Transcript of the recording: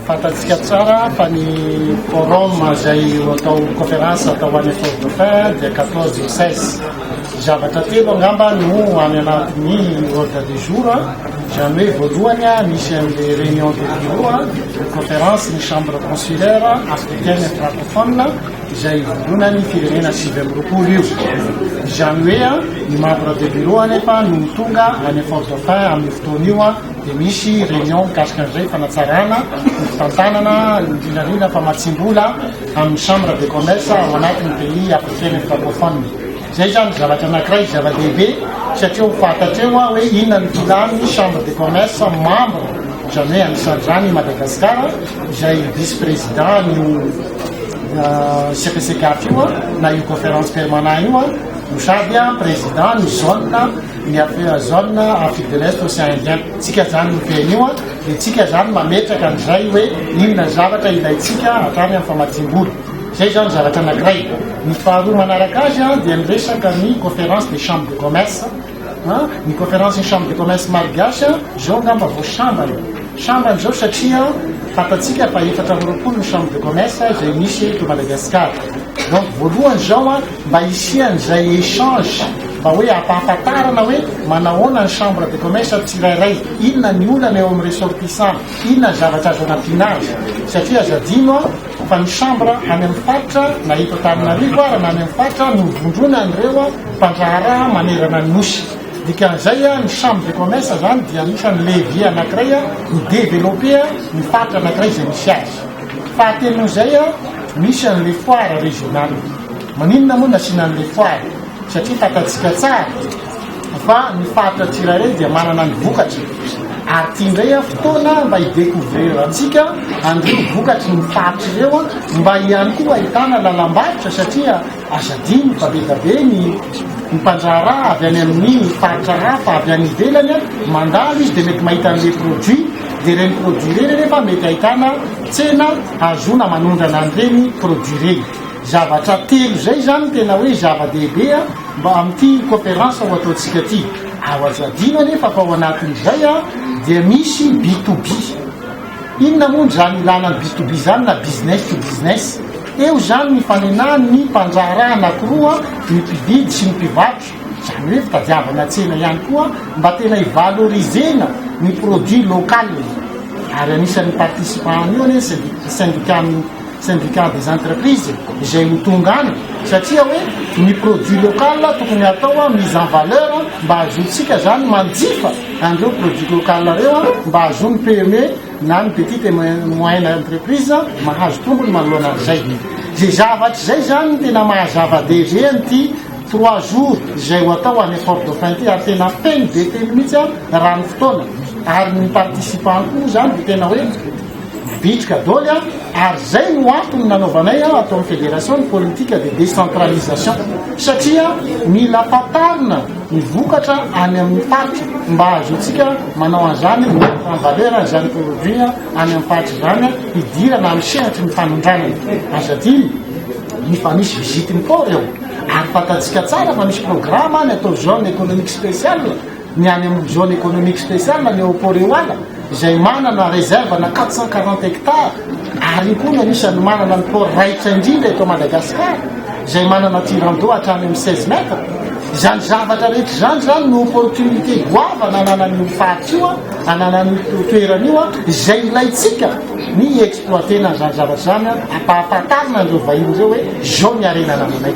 Fantatsika tsara fa ny forum izay atao conférence atao any Fort Dauphin dia 14 et 16. Zavatra telo angamba no any anatin'ny ordre du jour, izany hoe voalohany misy an'ilay réunion de bureau, conférence ny chambre consulaire africaine et francophone izay ivondronan'ny firenena sivy amby roapolo io. Izany hoe ny membre de bureau anefa no tonga any Fort Dauphin amin'ny fotoana io Dia misy réunion mikasika an'izay fanatsarana ny fitantanana ny vinavina famatsiam-bola amin'ny chambre de commerce ao anatin'ny pays africaine francophone. Izay izany zavatra anankiray zava-dehibe satria ho fantatra eo hoe inona ny filan'ny chambre de commerce membre, izany hoe anisan'izany i Madagascar izay vice président io CPCCAF io na io conférence permanent io no sady président ny zone. ny affaire zone Afrique de l'Est Océan Indien tsika zany no teny io an, dia tsika zany mametraka an'izay hoe inona zavatra ilaintsika hatrany amin'ny famatsiam-bola. Izay izao ny zavatra anankiray. Ny faharoa manaraka azy an, dia ny resaka ny Conférence des Chambres de Commerce an, ny Conférence ny Chambre de Commerce Malgache an, izao angamba vao sambany. Sambany izao satria fantatsika fa efatra amby roapolo ny Chambre de Commerce izay misy eto Madagasikara. Donc voalohany izao an, Mba hisian'izay échange mba hoe hampahafantarana hoe manahoana ny chambre de commerce amin'ny tsirairay, inona ny olana eo amin'ny ressortissant, inona ny zavatra azo anampiana azy. Satria aza adino an, fa ny chambre any amin'ny faritra na eto Antananarivo ara na any amin'ny faritra novondrona an'ireo mpandraharaha manerana ny Nosy. Dikan'izay ny chambre de commerce izany dia anisan'ny levier anankiray hi developper ny faritra anankiray izay misy azy. Fahatelo noho izay, misy an'ilay foire régionale. Maninona moa no asiana an'ilay foire? Satria fantantsika tsara fa ny faritra tsirairay dia manana ny vokatry, ary ity indray an fotoana mba hi-decouvrir antsika an'ireo vokatry ny faritra ireo, mba ihany koa ahitana lalam-barotra satria aza adino fa be dia be ny ny mpandraharaha avy any amin'ny faritra hafa avy any ivelany an, mandalo izy dia mety mahita an'ilay produit, dia ireny produit ireny anefa mety ahitana tsena ahazoana manondrana an'ireny produit ireny. Zavatra telo izay izany no tena hoe zava-dehibe mba amin'ity cooperance ho ataontsika ity. Azo adino anefa fa ao anatin'izay dia misy B to B. Inona moa izany ilàna ny B to B izany na business to business? Eo izany ny ifanenahan'ny mpandraharaha anankiroa, ny mpividy sy ny mpivarotra. Izany hoe fitadiavana tsena ihany koa mba tena hi-valoriser-na ny produit local. Ary anisan'ny participants an'io anie ny syndicat-n'ny. Syndicat des entreprises izay ho tonga any satria hoe ny produit local tokony atao mise en valeur mba hahazoantsika zany manjifa an'ireo produit local ireo mba hahazoan'ny PME na ny petite et moyenne entreprise mahazo tombony manoloana an'izay. Izay zavatra izay zany no tena mahazava-dehibe an'ity trois jours izay ho atao any Fort Dauphin ity ary tena feno dia feno mihitsy raha ny fotoana ary ny participants koa zany dia tena hoe Bitika doly an! Ary zay no antony nanaovanay an ato amin'ny federation ny politique de décentralisation satria mila fantarina ny vokatra any amin'ny faritra mba hahazoantsika manao an'izany ny mettre en valeur an'izany produit any amin'ny faritra izany an hidirana amin'ny sehatry ny fanondranana. Azo adino ny fa misy visite ny port eo ary fantatsika tsara fa misy programme any atao zone économique spéciale Ny any amin'ny Zone Economique Speciale, ny ao Port-Eoala, izay manana réserve ana quatre cent quarante hectares, ary io koa no anisan'ny manana ny port raitra indrindra eto Madagascar, izay manana tirant d'eau hatrany amin'ny seize mètres. Izany zavatra rehetra izany izany no opportunité goavana ananan'io faritra io, ananan'io toerana io, izay ilaintsika ny hi-exploiter-na an'izany zavatra izany, hampahafantarina an'ireo vahiny ireo hoe izao ny harena anananay.